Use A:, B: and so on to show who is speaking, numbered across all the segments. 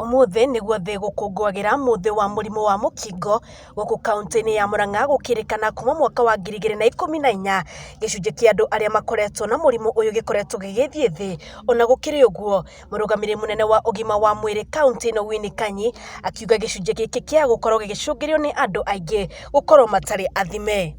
A: Ũmũthĩ nĩguo thĩ ĩgũkũngũagĩra mũthĩ wa mũrimũ wa mũkingo gũkũ kaũntĩ-inĩ ya Murang'a gũkĩrĩkana kuma mwaka wa ngiri igĩrĩ na ikũmi na inya gĩcunjĩ kĩa andũ arĩa makoretwo na mũrimũ ũyũ gĩkoretwo gĩgĩthiĩ thĩ. Ona gũkĩrĩ ũguo mũrũgamĩrĩri mũnene wa ũgima wa mwĩrĩ kaũntĩ ĩno Winnie Kanyi akiuga gĩcunjĩ gĩkĩ kĩa gũkorwo gĩgĩcũngĩrĩrio nĩ andũ aingĩ gũkorwo matarĩ athime.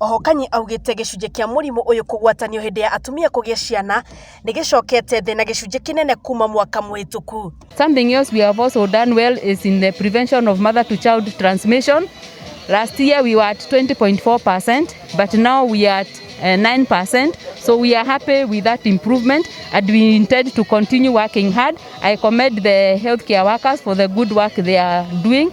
A: Oho Kanyi augĩte gĩcunjĩ kĩa mũrimũ ũyũ kũgwatanio hĩndĩ ya atumia kũgĩa ciana nĩgĩcokete thĩ na gĩcunjĩ kĩnene kuma mwaka mũhĩtũku. Something else we have also done well is in the prevention of mother to child transmission. Last year we were at 20.4%, but now we are at uh, 9%. So we are happy with that improvement and we intend to continue working hard. I commend the healthcare workers for the good work they are doing.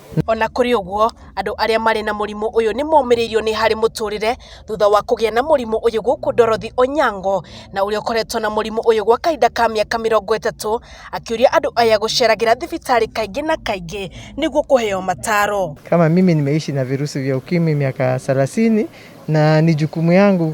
A: O na kũrĩ ũguo, andũ arĩa marĩ na mũrimũ ũyũ nĩ momĩrĩirio nĩ harĩ mũtũrĩre thutha wa kũgĩa na mũrimũ ũyũ gũkũ Dorothy Onyango na ũrĩa ũkoretwo na mũrimũ ũyũ gwa kahinda ka mĩaka mĩrongo ĩtatũ akĩũria andũ aya gũceragĩra thibitarĩ kaingĩ na kaingĩ nĩguo kũheo mataro. Kama mimi nimeishi na virusi vya ukimwi miaka thelathini na ni jukumu yangu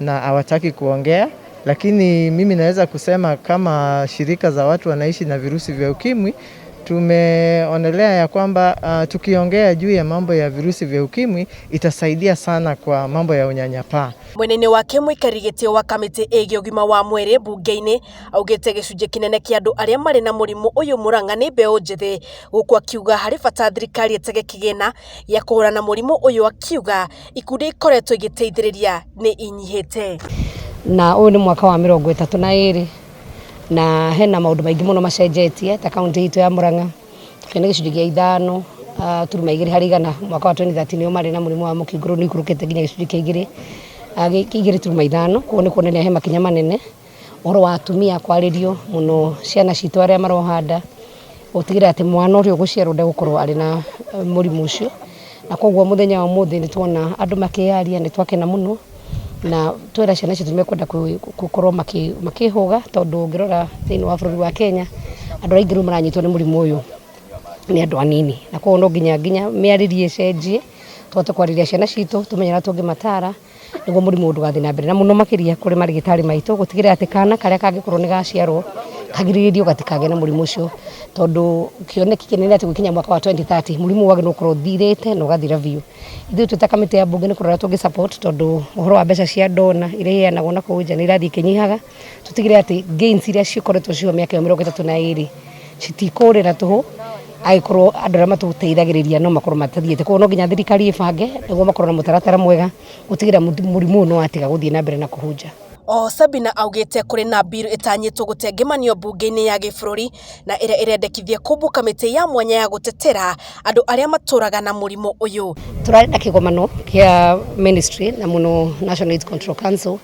A: na hawataki kuongea, lakini mimi naweza kusema kama shirika za watu wanaishi na virusi vya ukimwi tumeonelea ya kwamba uh, tukiongea juu ya mambo ya virusi vya ukimwi itasaidia sana kwa mambo ya unyanyapaa. mwena-inĩ wake mũikarĩri gĩtĩ wa kamĩtĩ ĩgiĩ ũgima wa mwĩrĩ mbunge-inĩ augĩte gĩcunjĩ kĩnene kĩa andũ arĩa marĩ na mũrimũ ũyũ mũrang'a nĩ mbeũ njĩthĩ gũkũ akiuga harĩ bata thirikari ĩtege kĩgĩna gĩa kũhũrana na mũrimũ ũyũ akiuga ikundi iria ikoretwo igĩteithĩrĩria nĩ inyihĩte. Na ũyũ nĩ mwaka wa mĩrongo ĩtatũ na ĩrĩ na hena maũndũ maingĩ mũno macenjetie ta kaunti itũ ya Murang'a tũkĩrĩ na gĩcunjĩ gĩa ithano ah, turuma igĩrĩ harĩ igana mwaka wa 2013 nĩo marĩ na mũrimũ wa mũkingo rĩu nĩikũrũkĩte nginya gĩcunjĩ kĩa igĩrĩ ah, igĩrĩ turuma ithano koguo nĩ kuonania he makinya manene ũhoro wa atumia kwarĩrio mũno ciana citũ arĩa maroha nda, gũtigĩrĩra atĩ mwana ũrĩa ũgũciarwo ndegũkorwo arĩ na mũrimũ ũcio, na koguo mũthenya wa ũmũthĩ nĩ tuona andũ makĩyaria nĩ twakena mũno, na twera ciana citũ nĩ mekwenda gũkorwo makĩhũga tondũ ũngĩrora thĩinĩ wa bũrũri wa Kenya, andũ arĩa aingĩ rĩu maranyitwo nĩ mũrimũ ũyũ nĩ andũ anini, na koguo no nginya nginya mĩarĩrie ĩcenjie, tũhote kwarĩria ciana citũ, tũmenye ũrĩa tũngĩmatara. nĩguo mũrimũ ndũgathiĩ na mbere na mũno makĩria kũrĩ marĩgĩtarĩ maitũ gũtigĩrĩra atĩ kana karĩa kangĩkorwo nĩ gaciarwo kagirĩrĩrio gatikagĩe na mũrimũ ũcio tondũ kĩoneki kĩnene atĩ gũkinya mwaka wa 2030 mũrimũ ũyũ wagĩrĩirwo gũkorwo ũthirĩte na ũgathira biũ. Ithuĩ twĩ ta kamĩtĩ ya mbunge nĩ kũrora tũngĩ support tondũ ũhoro wa mbeca cia ndona iria iheanagwo nakũu nja nĩ irathiĩ ikĩnyihaga. tũtigĩrĩre atĩ gains iria cikoretwo ciho mĩaka ĩyo mĩrongo ĩtatũ na ĩrĩ citikũrĩra tũhũ agĩkorwo andũ arĩa matũteithagĩrĩria no makorwo matathiĩte koguo no nginya thirikari ĩbange nĩguo makorwo na mũtaratara mwega gũtigĩrĩra mũrimũ ũyũ nĩ watiga gũthiĩ na mbere na kũhunja Oho Sabina augĩte kũrĩ na mbirũ ĩtanyĩtwo gũtengemanio mbunge-inĩ ya gĩbũrũri na ĩrĩa ĩrendekithia kũmbwo kamĩtĩ ya mwanya ya gũtetera andũ arĩa matũraga na mũrimũ ũyũ. Tũrarĩ na kĩgomano kĩa ministry na mũno National AIDS Control Council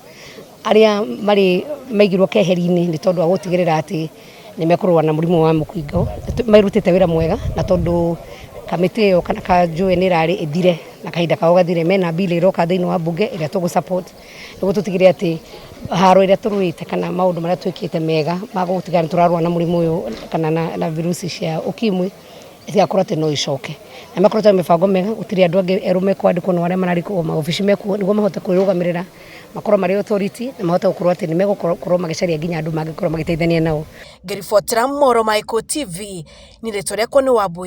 A: arĩa marĩ maigirwo keheri-inĩ nĩ tondũ wa gũtigĩrĩra atĩ nĩ mekũrũa na mũrimũ wa mũkingo marutĩte wĩra mwega na tondũ kamĩtĩ ĩyo kana kanjũĩ nĩ ĩrarĩ ĩthire na kahinda kao gathire mena bill ĩroka thĩinĩ wa mbunge ĩrĩa tũgũ support nĩguo tũtigĩrĩre atĩ haro ĩrĩa tũrũĩte kana maũndũ marĩa twĩkĩte mega ma gũtigĩrĩra nĩ tũrarũa na mũrimũ ũyũ kana na, na virusi cia ukimwi itigakorwo atĩ no icoke na makoretwo na mĩbango mĩega gũtirĩ andũ angĩ erũ mekwandĩkwo na arĩa mararĩkwo maobici mekuo nĩguo mahote kwĩrũgamĩrĩra makorwo marĩ authority na mahote gũkorwo atĩ nĩ megũkorwo magĩcaria nginya andũ mangĩkorwo magĩteithania nao. Ngĩribotera Mohoro ma Ikuũ TV, niĩ rĩtwa rĩakwa nĩ Wambũi.